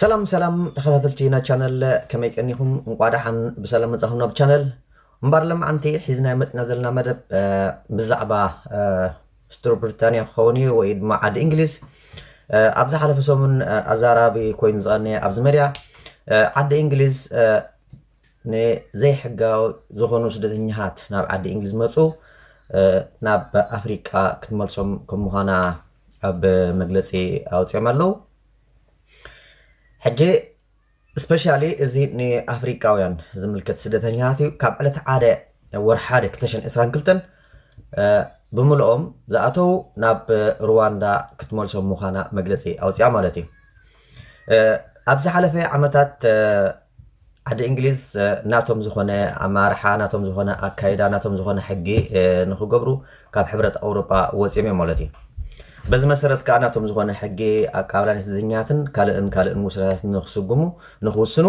ሰላም ሰላም ተኸታተልቲ ና ቻነል ከመይ ቀኒኹም እንቋዕ ደሓን ብሰላም መጻኹም ናብ ቻነል እምበር ለማዓንቲ ሒዝና መፅና ዘለና መደብ ብዛዕባ ስቱር ብሪታንያ ክኸውን እዩ ወይ ድማ ዓዲ እንግሊዝ ኣብ ዝሓለፈ ሰሙን ኣዛራቢ ኮይኑ ዝቐነየ ኣብዚ መድያ ዓዲ እንግሊዝ ንዘይሕጋዊ ዝኾኑ ስደተኛታት ናብ ዓዲ እንግሊዝ መጹ ናብ ኣፍሪቃ ክትመልሶም ከም ምዃና ኣብ መግለጺ ኣውጺኦም ኣለው ሕጂ ስፔሻሊ እዚ ንኣፍሪቃውያን ዝምልከት ስደተኛታት እዩ ካብ ዕለት ሓደ ወር ሓደ 222 ብምልኦም ዝኣተው ናብ ሩዋንዳ ክትመልሶም ምዃና መግለፂ ኣውፅያ ማለት እዩ ኣብ ዝሓለፈ ዓመታት ዓዲ እንግሊዝ ናቶም ዝኾነ ኣመራርሓ፣ ናቶም ዝኾነ ኣካይዳ፣ ናቶም ዝኾነ ሕጊ ንኽገብሩ ካብ ሕብረት ኣውሮጳ ወጺኦም እዮም ማለት እዩ። በዚ መሰረት ከኣ ናቶም ዝኾነ ሕጊ ኣቀባብላ ናይ ስደተኛታትን ካልእን ካልእን ውሳኔታትን ንኽስጉሙ ንኽውስኑ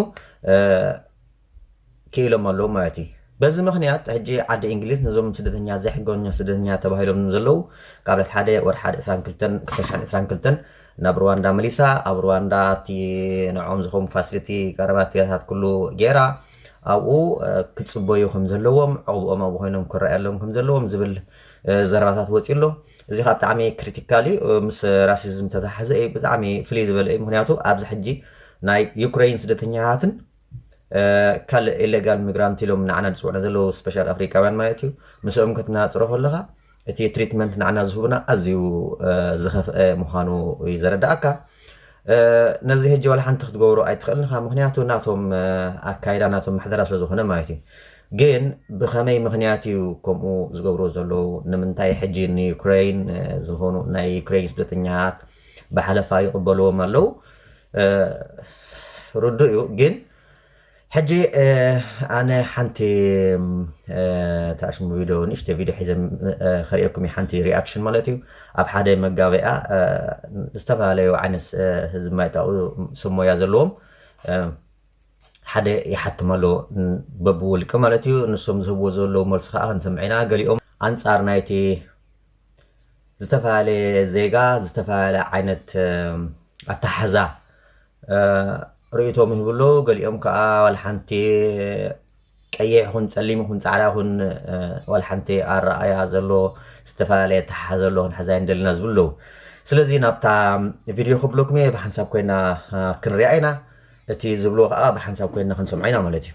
ክኢሎም ኣለዉ ማለት እዩ። በዚ ምኽንያት ሕጂ ዓዲ እንግሊዝ ነዞም ስደተኛ ዘይሕጋኛ ስደተኛ ተባሂሎም ዘለዉ ካብ ዕለት ሓደ ወርሓድ ዕስራን ክልተን ክልተ ሽሕን ዕስራን ክልተን ናብ ርዋንዳ መሊሳ ኣብ ርዋንዳ ኣብቲ ንዕኦም ዝኸውን ፋሲሊቲ ቀረባት ያታት ኩሉ ጌራ ኣብኡ ክጽበዩ ከም ዘለዎም ዑቕብኦም ኣብኡ ኮይኖም ክረኣየሎም ከም ዘለዎም ዝብል ዘረባታት ወጺኡ ኣሎ እዚ ካብ ብጣዕሚ ክሪቲካል እዩ ምስ ራሲዝም ተተሓዘ እዩ ብጣዕሚ ፍልይ ዝበለ እዩ ምክንያቱ ኣብዚ ሕጂ ናይ ዩክሬይን ስደተኛታትን ካልእ ኢሌጋል ሚግራንት ኢሎም ንዓና ዝጽውዑ ዘለዉ ስፔሻል ኣፍሪቃውያን ማለት እዩ ምስኦም ክትነጻጽሮ ከለኻ እቲ ትሪትመንት ንዓና ዝህቡና ኣዝዩ ዝኸፍኣ ምዃኑ እዩ ዘረድኣካ። ነዚ ሕጂ ዋላ ሓንቲ ክትገብሮ ኣይትኽእልን ኢኻ፣ ምኽንያቱ ናቶም ኣካይዳ ናቶም ምሕደራ ስለ ዝኾነ ማለት እዩ። ግን ብኸመይ ምኽንያት እዩ ከምኡ ዝገብርዎ ዘለዉ? ንምንታይ ሕጂ ንዩክረይን ዝኾኑ ናይ ዩክረይን ስደተኛታት ብሓለፋ ይቕበልዎም ኣለዉ? ርዱእ እዩ ግን ሕጂ ኣነ ሓንቲ ተኣሽሙ ቪድዮ ንእሽተይ ቪድዮ ሒዘ ከርእየኩም እዩ ሓንቲ ሪኣክሽን ማለት እዩ ኣብ ሓደ መጋበያ ዝተፈላለዩ ዓይነት ህዝቢ ማይጣኡ ሰብ ሞያ ዘለዎም ሓደ ይሓትም ኣሎ በብውልቂ ማለት እዩ ንሶም ዝህብዎ ዘለዉ መልሲ ከዓ ክንሰምዕ ኢና ገሊኦም ኣንጻር ናይቲ ዝተፈላለየ ዜጋ ዝተፈላለየ ዓይነት ኣተሓሕዛ ርእይቶ ይህቡ ኣለዉ። ገሊኦም ከዓ ዋላ ሓንቲ ቀይሕ ይኹን ፀሊም ይኹን ፃዕዳ ይኹን ዋላ ሓንቲ ኣረኣእያ ዘሎ ዝተፈላለየ ኣተሓሓዛ ዘሎ ክንሕዛ የንደልና ዝብሉ ኣለዉ። ስለዚ ናብታ ቪድዮ ክብለኩም እየ ብሓንሳብ ኮይና ክንሪኣ ኢና እቲ ዝብልዎ ከዓ ብሓንሳብ ኮይና ክንሰምዖ ኢና ማለት እዩ።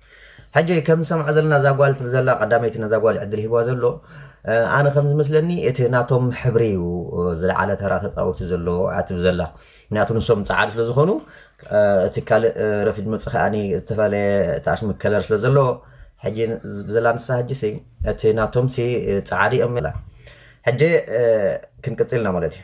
ሕጂ ከም ንሰምዓ ዘለና እዛ ጓል ትብል ዘላ ቀዳመይቲ ነዛ ጓል እዩ ዕድል ሂብዋ ዘሎ ኣነ ከም ዝመስለኒ እቲ ናቶም ሕብሪ እዩ ዝለዓለ ተራ ተጻዊቱ ዘሎ እያ ትብል ዘላ ምክንያቱ ንሶም ጻዓዱ ስለ ዝኾኑ እቲ ካልእ ረፊድ መጽ ከኣኒ ዝተፈላለየ ተኣሽሚ ከለር ስለ ዘለዎ ሕጂ ብዘላ ንሳ ሕጂ ሲ እቲ ናቶም ሲ ጻዓዱ እዮም ሕጂ ክንቅጽልና ማለት እዩ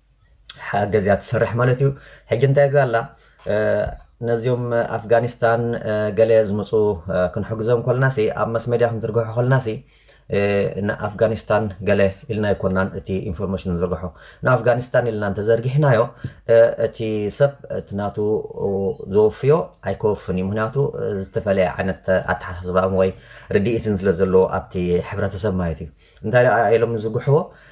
ሓገዝ እያ ትሰርሕ ማለት እዩ ሕጂ እንታይ ይግበር ኣላ ነዚኦም ኣፍጋኒስታን ገለ ዝመፁ ክንሕግዞም ኮልና ሲ ኣብ መስ መድያ ክንዝርግሖ ኮልና ሲ ንኣፍጋኒስታን ገለ ኢልና ኣይኮናን እቲ ኢንፎርሜሽን ንዝርግሖ ንኣፍጋኒስታን ኢልና እንተዘርጊሕናዮ እቲ ሰብ እቲ ናቱ ዘወፍዮ ኣይከወፍን እዩ ምክንያቱ ዝተፈላለየ ዓይነት ኣተሓሳስባን ወይ ርድኢትን ስለ ዘለዎ ኣብቲ ሕብረተሰብ ማለት እዩ እንታይ ኢሎም ዝዝግሕዎ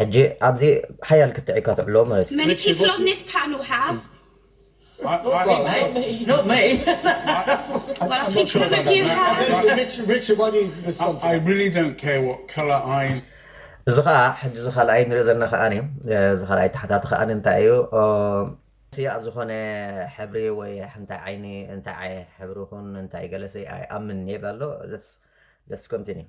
ሕጂ ኣብዚ ሓያል ክትዕ ኢካ ትዕሎ ማለት እዩ። Meticulous ፓኑ ሃቭ እዚ ከኣ ሕጂ እዚ ካልኣይ ንሪኦ ዘለና ከኣ እዚ ካልኣይ ተሓታቲ ከኣ እንታይ እዩ ኣይ ኣብ ዝኮነ ሕብሪ ወይ ሕንታይ ዓይኒ እንታይ ሕብሪ ይኩን እንታይ ገለ ኣይ ኣምን ይብል ኣሎ let's continue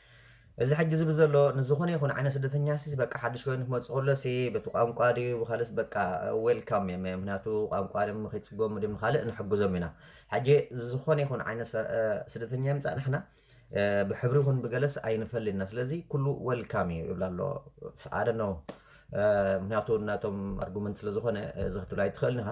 እዚ ሕጂ ዝብል ዘሎ ንዝኮነ ይኩን ዓይነት ስደተኛ ሲ በቃ ሓድሽ ኮይኑ ክመጽእ ከሎ ሲ በቲ ቋንቋ ድዩ ብካልእስ በቃ ዌልካም እዮም ምክንያቱ ቋንቋ ድም ከይጽገሙ ድም ካልእ ንሕግዞም ኢና ሕጂ ዝኮነ ይኩን ዓይነት ስደተኛ ይምጻእ ንሕና ብሕብሪ ይኩን ብገለስ ኣይንፈልን ኢና ስለዚ ኩሉ ዌልካም እዩ ይብላ ኣሎ ኣደ ነው ምክንያቱ ናቶም ኣርጉመንት ስለዝኮነ እዚ ክትብል ኣይትክእልን ኢካ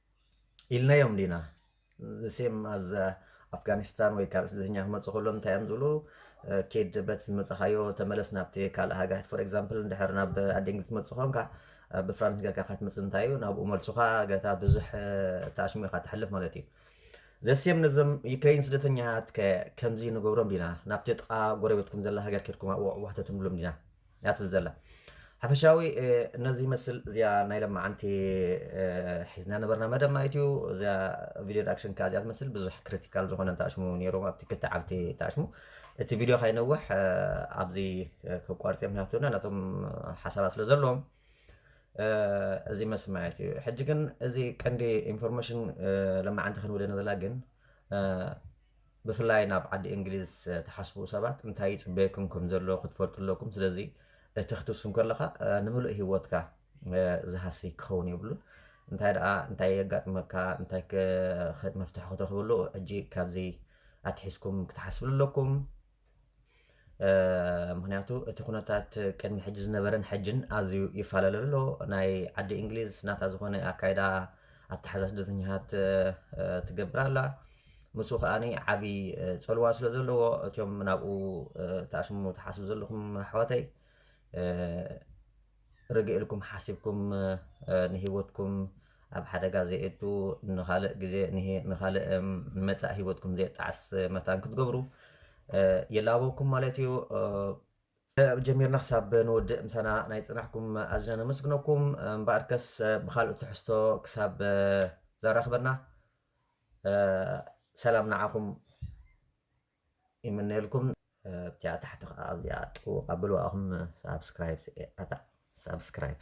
ኢልናዮም ዲና ሴም ኣዝ ኣፍጋኒስታን ወይ ካልእ ስደተኛ ክመፁ ከሎ እንታይ እዮም ዝብሉ ኬድ በት ዝመፅኻዮ ተመለስ ናብቲ ካልእ ሃገራት ፎር ኤግዛምፕል እንድሕር ናብ ኣዴንግሊዝ ትመፅእ ኮንካ ብፍራንስ ጌርካ ክትመፅእ እንታይ እዩ ናብኡ መልሱኻ ገታ ብዙሕ ተኣሽሙ ኢኻ ትሕልፍ ማለት እዩ ዘሴም ነዞም ዩክሬን ስደተኛታት ከምዚ ንገብሮም ዲና ናብቲ ጥቓ ጎረቤትኩም ዘላ ሃገር ኬድኩም ኣብኡ ኣሕዋሕተትም ብሎም ዲና እያ ትብል ዘላ። ሓፈሻዊ ነዚ ይመስል እዚኣ ናይ ለማዓንቲ ሒዝና ነበርና መደብ ማለት እዩ እዚኣ ቪድዮ ዳክሽን ከኣ እዚኣ ትመስል ብዙሕ ክሪቲካል ዝኾነ ተኣሽሙ ነይሩ ኣብቲ ክልተ ዓብቲ ተኣሽሙ እቲ ቪድዮ ካይነውሕ ኣብዚ ከቋርጽ ምክንያቱ ና ነቶም ሓሳባት ስለ ዘለዎም እዚ መስል ማለት እዩ ሕጂ ግን እዚ ቀንዲ ኢንፎርሜሽን ለማዓንቲ ክንብለና ዘላ ግን ብፍላይ ናብ ዓዲ እንግሊዝ ትሓስቡ ሰባት እንታይ ይጽበየኩም ከም ዘሎ ክትፈልጡ ኣለኩም ስለዚ እቲ ክትብሱ ከለኻ ንምሉእ ሂወትካ ዝሃሲ ክኸውን የብሉን እንታይ ደኣ እንታይ የጋጥመካ እንታይ መፍትሒ ክትረኽበሉ ሕጂ ካብዚ ኣትሒዝኩም ክትሓስብሉ ኣለኩም ምክንያቱ እቲ ኩነታት ቅድሚ ሕጂ ዝነበረን ሕጅን ኣዝዩ ይፈላለ ኣሎ። ናይ ዓዲ እንግሊዝ ናታ ዝኾነ ኣካይዳ ኣተሓዛ ስደተኛታት ትገብር ኣላ። ምስኡ ከኣ ዓብዪ ፀልዋ ስለ ዘለዎ እትም ናብኡ ተኣስሙ ትሓስቡ ዘለኹም ኣሕዋተይ ርግእ ኢልኩም ሓሲብኩም ንሂወትኩም ኣብ ሓደጋ ዘየእቱ ንኻልእ ግዜ ንኻልእ ንመጻኢ ሂወትኩም ዘየጣዕስ መታን ክትገብሩ ይላበወኩም ማለት እዩ። ጀሚርና ክሳብ ንወድእ ምሳና ናይ ጽናሕኩም ኣዝና ነመስግነኩም። እምበኣርከስ ብኻልእ ትሕዝቶ ክሳብ ዘራኽበና ሰላም ንዓኹም። ይምነየልኩም ኣብቲኣ ታሕቲ ከኣ ኣብዚኣ ጥውቅ ኣብልዋ ኣኹም ሳብስክራይብ ኣታ ሳብስክራይብ